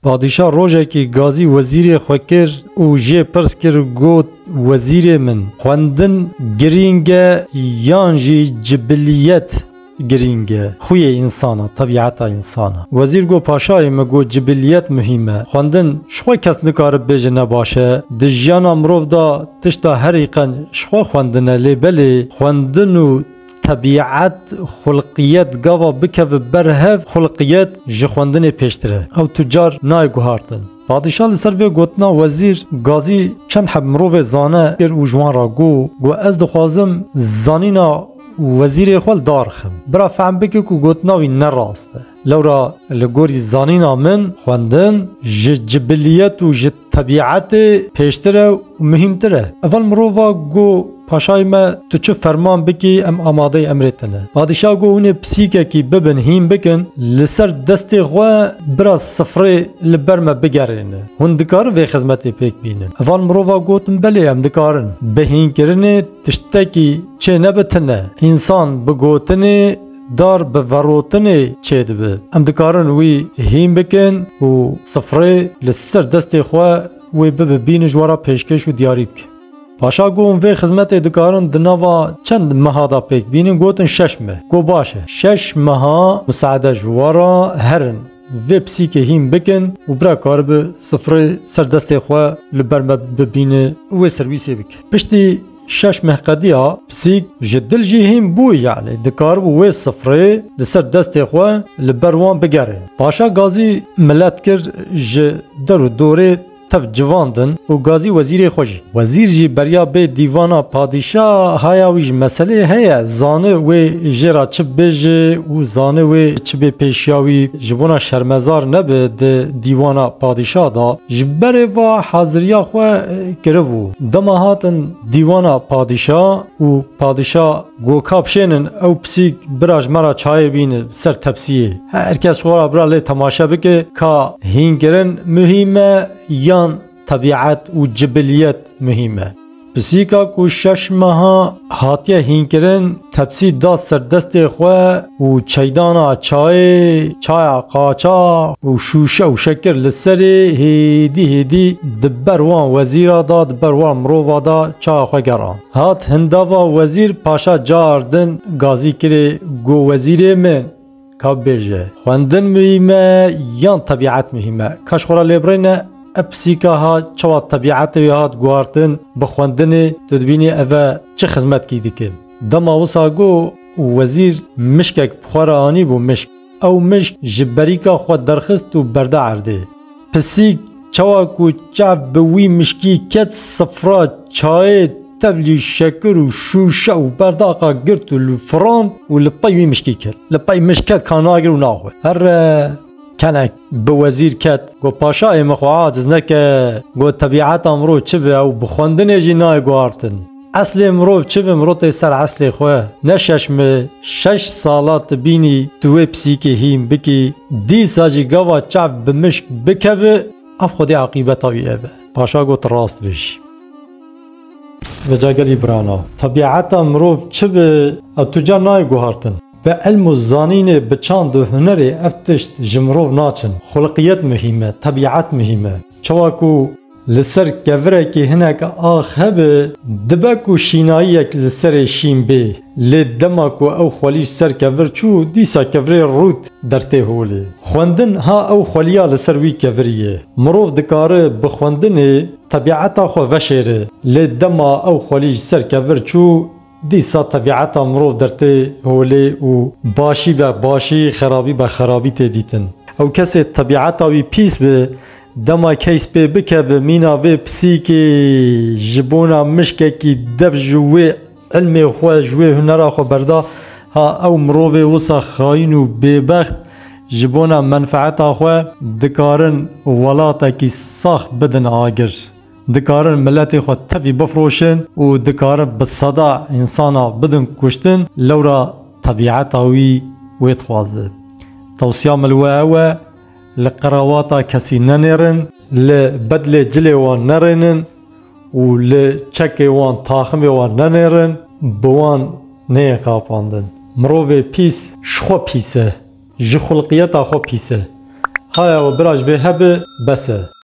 Padîşah rojekî gazî wezîrê xwe kir û jê pirs kir got, Wezîrê min, xwendin girîng e yan jî cibiliyet girîng e, xuyê însan e, tebîeta însan e? Wezîr got, Paşayê min got cibiliyet muhîm e. Xwendin ji xwe kes nikare bibêje ne baş e. Di jiyana mirov de tişta herî qenc ji xwe xwendin e lê belê xwendin û Tebîet, xulqiyet gava bikeve ber hev, xulqiyet ji xwendinê pêştir e. Ew tu car nayê guhartin. Padîşah li ser vê gotina wezîr Gazî çend heb mirovê zane kir û ji wan re got, Got ez dixwazim zanîna wezîrê xwe li dar bixim. Bira fehm bike ku gotina wî ne rast e. Lewra li gorî zanîna min xwendin ji cibiliyet û ji Tebîetê pêştir e û muhîmtir e. Eval mirova go, Paşayê me, tu çi ferman bikî em amadeyê emrê te ne. Padîşah go, Hûnê pisîkekî bibin hîn bikin, li ser destê xwe bira sifrê li ber me bigerêne. Hûn dikarin vê xizmetê pêk bînin? Eval mirova gotin, Belê em dikarin. Bi hînkirinê tiştekî çê nebe tune. Însan bi gotinê Dar bi verotinê çêdibe. Em dikarin wî hîn bikin û sifrê li ser destê xwe wê bibe bînin ji we re pêşkêş û diyarî bike. Paşa gotin vê xizmetê dikarin di nava çend meha de pêk bînin, gotin şeş meh. Got baş e. Şeş meha miseade ji we re herin vê pisîkê hîn bikin û bira karibe sifrê ser destê xwe li ber me bibîne û wê serwîsê bike. Piştî Şeş meh qediya pisîk ji dil jî hîn bû yanî dikaribû wê sifrê li ser destê xwe li ber wan bigerê. Paşa Gazî milet kir ji der û dorê tev civandin û Gazî wezîrê xwe jî. Wezîr jî beriya bê dîvana padîşa haya wî ji meselê heye zani wê jê ra çi bibêje û zani wê çi bê pêşiya wî ji bona şermezar nebe di dîvana padîşa da ji berê va haziriya xwe kiribû. Dema hatin dîwana padîşa û padîşa got ka bişênin ew pisîk bira ji me re çayê bîne ser tepsiyê. Her kes xwe re bira lê temaşe bike ka hînkirin muhîm e yan tebîet û cibiliyet muhîm e. Pisîka ku şeş meha hatiye hînkirin Tepsî da ser destê xwe û çeydana çayê, çaya qaçax û şûşe û şekir li serê hêdî hêdî di ber wan wezîra da, di ber wan mirova da çaya xwe gerand. Hat hindava wezîr paşa car din gazî kirê, got, Wezîrê min! Ka bibêje, xwendin muhîm e yan tebîet muhîm e? Ka ji xwe re lêbirêne, ev pisîka ha çawa tebîetê wê hat guhartin bi xwendinê, tu dibînî ev e çi xizmetkî dike? Dema wisa got û wezîr mişkek bi xwe re anîbû mişk. Ew mişk ji berîka xwe derxist û berde erdê. Pisîk çawa ku çav bi wî mişkî ket sifra çayê tevlî şekir û şûşe û berdaxa girt û li firand û li pey wî mişkî kir. Li pey mişk ket ka nagir û naxwe. Her kenek bi wezîr ket. Got paşa ê min xwe aciz neke. Got tebîeta mirov çi be ew bi xwendinê jî nayê guhartin. Eslê mirov çi bi miro tê ser eslê xwe. Ne şeş mi şeş sala tu bînî tu wê pisîkê hîn bikî dîsa jî gava çav bi mişk bikevi ev xwedî aqîbeta wî ev e. Paşa got rast bêjî. Meca gelî birana. Tebîeta mirov çi bi ev tu ca nayê guhartin. Bi ilm û zanînê bi çand û hunerê ev tişt ji mirov naçin. Xulqiyet muhîm e, tebîet muhîm e. Çawa ku. Li ser kevirekî hinek ax hebe, dibe ku şînayiyek li serê şîn bê. Lê dema ku ew xwelî ser kevir çû, dîsa kevirê rût der tê holê. Xwendin ha ew xweliya li ser wî kevirî ye. Mirov dikare bi xwendinê tebîeta xwe veşêre. Lê dema ew xwelî ser kevir çû, Dîsa tebîeta mirov dertê holê û başî be başî, xerabî be xerabî tê dîtin. Ew kesê tebîeta wî pîs be, dema keys pê bikeve mîna vê pisîkê ji bona mişkekî dev ji wê îlmê xwe, ji wê hunera xwe berda, ha ew mirovê wisa xayîn û bêbext ji bona menfeeta xwe dikarin welatekî sax bidin agir. Dikarin miletê xwe tevî bifroşin û dikarin bi seda însana bidin kuştin, lewra tebîeta wî wê dixwaze. Tewsiya min li we ew e, li qirewata kesî nenêrin, li bedlê cilê wan nerênin û li çekê wan, taximê wan nenêrin, bi wan neyên xapandin. Mirovê pîs ji xwe pîs e, ji xulqiyeta xwe pîs e. Haya we bira ji vê hebe bes e.